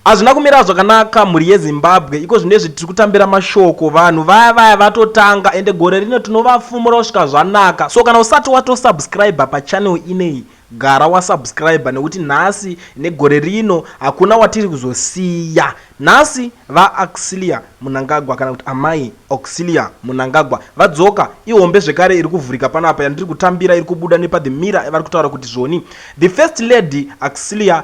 Hazvina kumira zvakanaka mhuri yeZimbabwe iko zvinezvi tiri kutambira mashoko vanhu vaya vaya vatotanga ende gore rino tinovafumura kusvika zvanaka so kana usati wato subscriber pachannel ineyi gara wa subscriber nekuti nhasi negore rino hakuna watiri kuzosiya nhasi va Auxilia Munangagwa kana kuti amai Auxilia Munangagwa vadzoka ihombe zvekare iri kuvhurika panapa yandiri kutambira iri kubuda nepa the mirror vari kutaura kuti zvoni the first lady Auxilia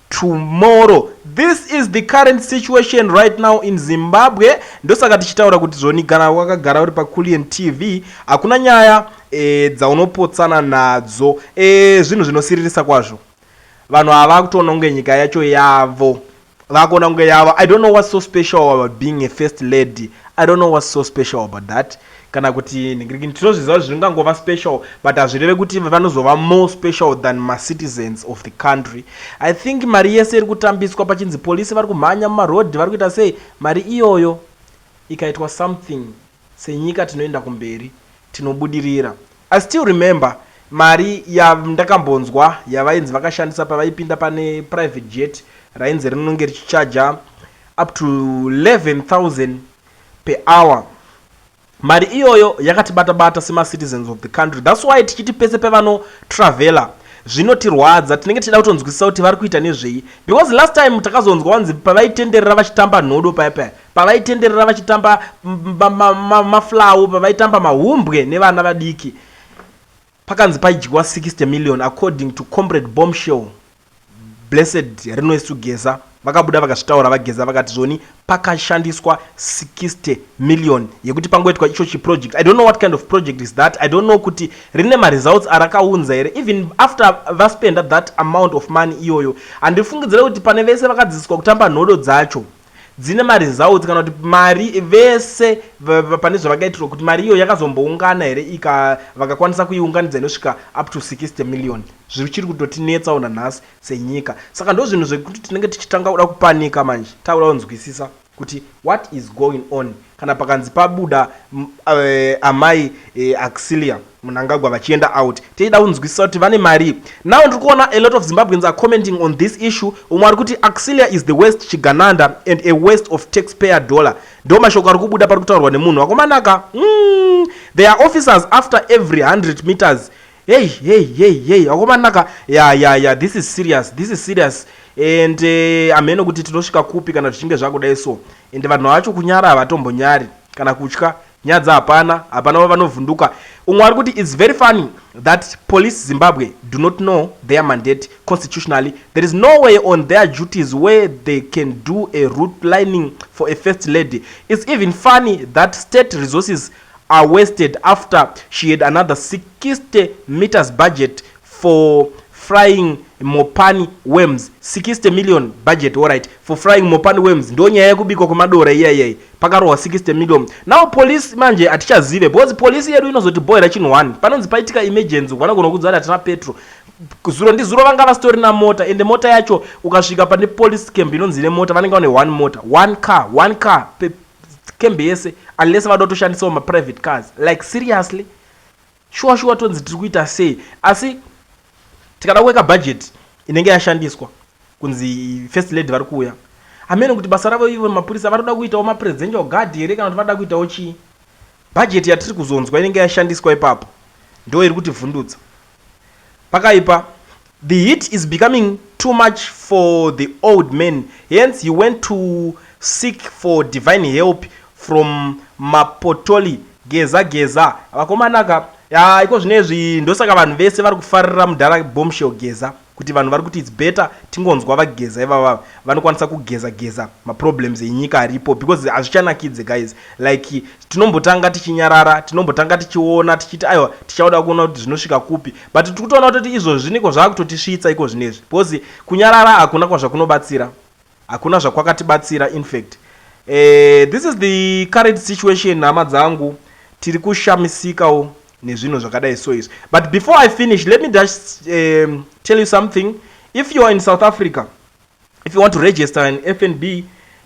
tomorrow this is the current situation right now in zimbabwe ndosaka tichitaura kuti zvoni gana wakagara uri paculian tv hakuna nyaya e, dzaunopotsana nadzo e, zvinhu zvinosiririsa kwazvo vanhu ava vakutoona kunge nyika yacho yavo vakuona kunge yavo i don't know what's so special about being a first lady i don't know what's so special about that kana kuti nhingirikini tinozviziva kuti zvingangova special but hazvireve kuti vanozova more special than macitizens of the country i think mari yese iri kutambiswa pachinzi police vari kumhanya mumarodhi vari kuita sei mari iyoyo ikaitwa something senyika tinoenda kumberi tinobudirira i still remember mari yandakambonzwa yavainzi vakashandisa pavaipinda pane private jet rainzi rinonge richichaja up to 11000 per hour. Mari iyoyo yakatibata bata sema citizens of the country that's why tichiti pese pevano traveller zvinotirwadza tinenge tichida kutonzwisisa kuti vari kuita nezvei because last time takazonzwa vanzi pavaitenderera vachitamba nhodo paya paya pavaitenderera vachitamba maflawo pavaitamba mahumbwe nevana vadiki Pakanzi paidyiwa 60 million according to Comrade Bombshell Blessed Rinoesu Geza vakabuda vakazvitaura vaGeza vakati zvoni pakashandiswa 60 million yekuti pangoitwa icho chiproject I don't know what kind of project is that I don't know kuti rine maresults arakaunza here even after vaspenda that amount of money iyoyo handifungidzire kuti pane vese vakadzidziswa kutamba nhodo dzacho dzine maresults kana kuti mari vese pane zvavakaitirwa kuti mari iyo yakazomboungana here ika vakakwanisa kuiunganidza inosvika up to 60 million zvichiri kutotinetsawo nanhasi senyika saka ndozvinhu zvekuti tinenge tichitanga kuda kupanika manje takuda kunzwisisa kuti what is going on Kana pakanzi pabuda amai Auxilia Mnangagwa vachienda out teida kunzwisisa kuti vane marii. Now ndiri kuona a lot of Zimbabweans are commenting on this issue umwe ari kuti Auxilia is the worst chigananda and a waste of taxpayer dollar. Ndo mashoko ari kubuda pari kutaurwa nemunhu. Vakomanaka umm there are officers after every 100 meters Hey hey hey hey akomanaka ya ya ya this is serious this is serious and eh, hameno kuti tinosvika kupi kana zvichinge zvakudai so and vanhu vacho kunyara havatombonyari kana kutya nyadza hapana hapana vanovhunduka umwe ari kuti its very funny that police zimbabwe do not know their mandate constitutionally there is no way on their duties where they can do a root lining for a first lady its even funny that state resources are wasted after she had another 60 metres budget for frying mopani worms 60 million budget alright for frying mopani worms ndo nyaya yekubikwa kwemadora iya iyai pakarohwa 60 million now police manje hatichazive because police yedu inozotibohera chinhu one panonzi paitika emergency vanogona kudza kuti hatina petro zuro ndizuro vanga vasitorina mota ende mota yacho ukasvika pane police camp inonzi ine mota vanenge vane one mota one car one car pe camp yese unless vanoda kutoshandisawo maprivate cars like seriously shuwa shuwa tonzi tiri kuita sei asi tikada kuweka budget inenge yashandiswa kunzi first lady vari kuuya hameno kuti basa ravo ivo mapurisa vanoda kuitawo mapresidential guard here kana kuti vanoda kuitawo chii Budget yatiri kuzonzwa inenge yashandiswa ipapo ndo iri kutivhundutsa. Pakaipa. The heat is becoming too much for the old man hence he went to seek for divine help from Mapotoli Geza Geza. Vakomana ka. Yaa ikozvinezvi ndosaka vanhu vese vari kufarira mudhara Bombshell Geza. Kuti vanhu vari kuti it's better tingonzwa vageza ivava vanokwanisa kugeza geza maproblems enyika aripo because hazvichanakidze guys like tinombotanga tichinyarara tinombotanga tichiona tichiti aiwa tichauda kuona kuti zvinosvika kupi but tiri kutoona kutoti izvozvi niko zvaakutotisvitsa iko zvinezvi because kunyarara hakuna kwazvakunobatsira Hakuna zvakwakatibatsira infact eh, this is the current situation hama dzangu tiri kushamisikawo nezvinhu zvakadai so izvi but before i finish let me just um, tell you something if you are in south africa if you want to register an fnb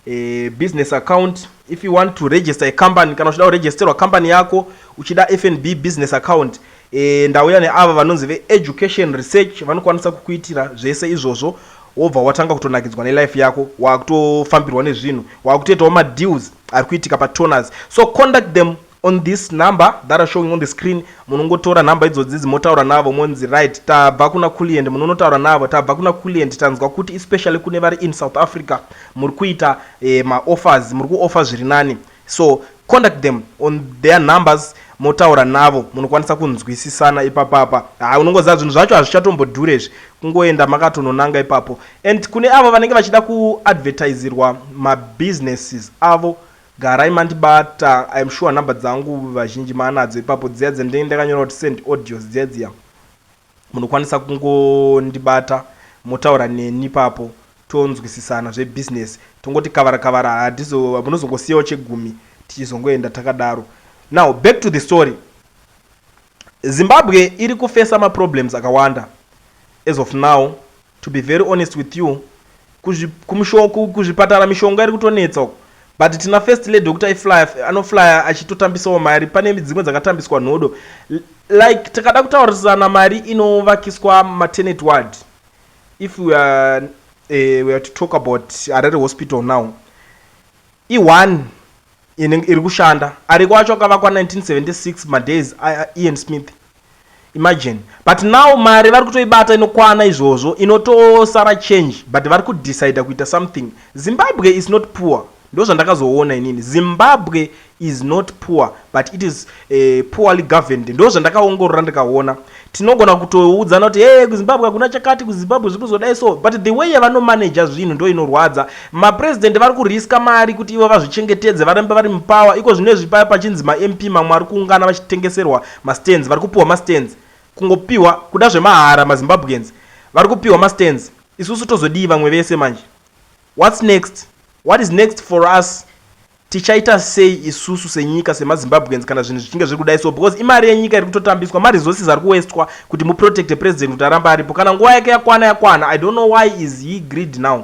uh, business account if you want to register a company kana uchida kuregisterwa company yako uchida fnb business account E, ndauya neava vanonzi veEducation Research vanokwanisa kukuitira zvese izvozvo wobva watanga kutonakidzwa nelife yako wakutofambirwa nezvinhu wakutoitawo madeals ari kuitika patoners so conduct them on this number that are showing on the screen munongotora nhamba idzodzizi motaura navo monzi right tabva kuna kulient munonotaura navo tabva kuna kulient tanzwa kuti especially kune vari in south africa muri kuita eh, maoffers muri kuoffer zviri nani So contact them on their numbers motaura navo munokwanisa kunzwisisana ipapapa haa unongoziva zvinhu zvacho hazvichatombodhure izvi kungoenda makatononanga ipapo and kune avo vanenge vachida kuadvertisirwa mabusinesses avo garai mandibata iam sure number dzangu vazhinji maanadzo ipapo dziya dzendenge ndakanyora kuti send audios dziya dziya Munokwanisa kungondibata motaura neni ipapo tonzwisisana zve business tongoti kavara kavara hadizo munozongosiyawo chegumi tichizongoenda takadaro now back to the story Zimbabwe iri kufesa ma problems akawanda as of now To be very honest with you kuzvi kumusho kuzvipatara mishonga iri kutonetsa uko but tina first lady wekuti aiflya anoflya achitotambisawo mari pane dzimwe dzakatambiswa nhodo like takada kutaurisana mari inovakiswa maternity ward if we are, uh, we are to talk about harare hospital now i-one iri kushanda ariko acho akavakwa 1976 madays ian smith Imagine but now mari vari kutoibata inokwana izvozvo inotosara change but vari kudecider kuita something. Zimbabwe is not poor ndozvandakazoona inini Zimbabwe is not poor but it is uh, poorly governed ndozvandakaongorora ndikaona. Tinogona kutoudzana kuti hey kuZimbabwe hakuna chakati kuZimbabwe zviri kuzodai so but the way yavanomanager zvinhu ndo inorwadza. Mapresident vari kuriska mari kuti ivo vazvichengetedze varambe vari mupower iko zvino izvi paya pachinzi maMP mamwe ari kuungana vachitengeserwa Mastands vari kupiwa mastands kungopiwa kuda zvemahara mazimbabweans vari kupiwa mastands isusu tozodii vamwe vese manje whats next what is next for us tichaita sei isusu senyika semazimbabweans kana zvinhu zvichinge zviri kudai so because imari yenyika iri kutotambiswa maresources ari kuwestwa kuti muprotecte president kuti arambe aripo kana nguva yake yakwana yakwana i don't know why is he greed now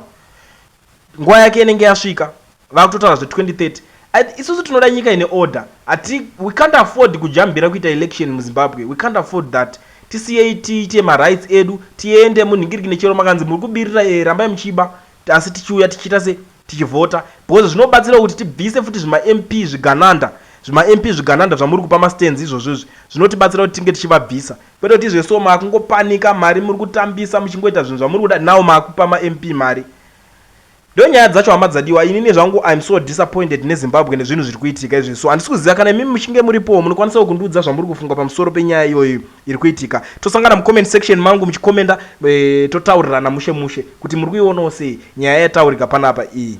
Nguva yake inenge yasvika vakutotaura zve 2030 isusu tinoda nyika ine order hati we can't afford kujambira kuita election mu Zimbabwe we can't afford that tisiyei tiite ma rights edu tiende munhingirikine chero makanzi muri kubirira eh rambai muchiba asi tichiuya tichiita se tichivhota because zvinobatsirawo kuti tibvise futi zvima MP zvigananda zvima MP zvigananda zvamuri kupa ma stands izvozvo izvi zvinotibatsira kuti tinge tichivabvisa Kwete kuti izve so makungopanika mari muri kutambisa muchingoita zvinhu zvamuri kuda now makupa maMP mari ndonyaya dzacho hama dzadiwa inini zvangu I'm so disappointed neZimbabwe nezvinhu zviri kuitika izvi so handisi kuziva kana imimi muchinge muripowo munokwanisawo kundiudza zvamuri kufunga pamusoro penyaya iyoyi iri kuitika tosangana mucomment section mangu muchikomenda e, totaurirana mushe mushe kuti muri kuionawo sei nyaya yataurika panapa iyi